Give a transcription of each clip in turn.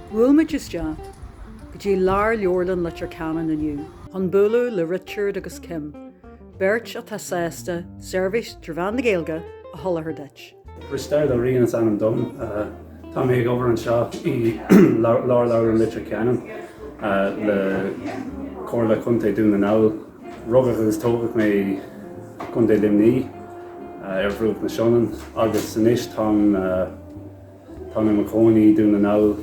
Bhuail muid isteach go dtí Lárleabharlann Leitir Ceanainn inniu chun bualadh le Richard agus Kim, beirt atá sásta seirbhís trí mheán na Gaeilge a sholáthar duit. Risteard Ó Riain is ainm dom. Tá mé ag obair anseo i Lárleabharlann Leitir Ceanainn le Comhairle Contae Dhún na nGall. Rugadh agus tógadh mé i gContae Luimní ar bhruach na Sionainne agus anois táim Tá mé i mo chónaí i nDún na nGall.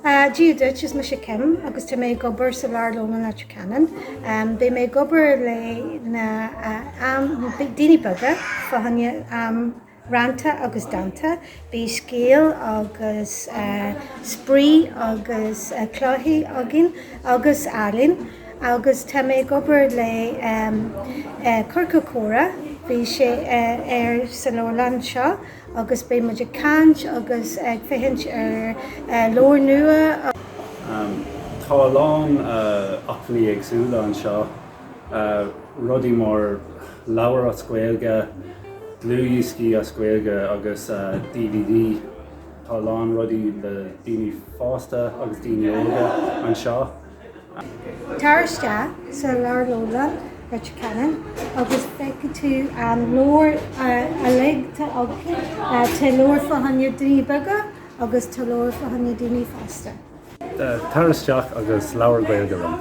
Dia duit, is mise Kim agus tá mé ag obair sa Lárleabharlann i Leitir Ceanainn. Beidh mé ag obair leis na daoine beaga fá choinne rannta agus dánta. Beidh scéal agus spraoi agus cluichí againn agus ealaín agus tá mé ag obair le Ciorcal Comhrá, beidh sé ar sa leabharlann seo. agus beidh muid ag caint agus ag féachaint ar leabhair nua. Tá a lán acmhainní éagsúla anseo, rudaí mar leabhair as Gaeilge, dlúthdhioscaí as Gaeilge agus dvd. Tá a lán rudaí le daoine fásta agus daoine óga anseo. Tar isteach sa Lárleabharlann Leitir Ceanainn agus feicfidh tú na leabhair uilig, tá leabhair fá choinne daoine beaga agus tá leabhair fá choinne daoine fásta. Tar isteach agus labhair Gaeilge liom.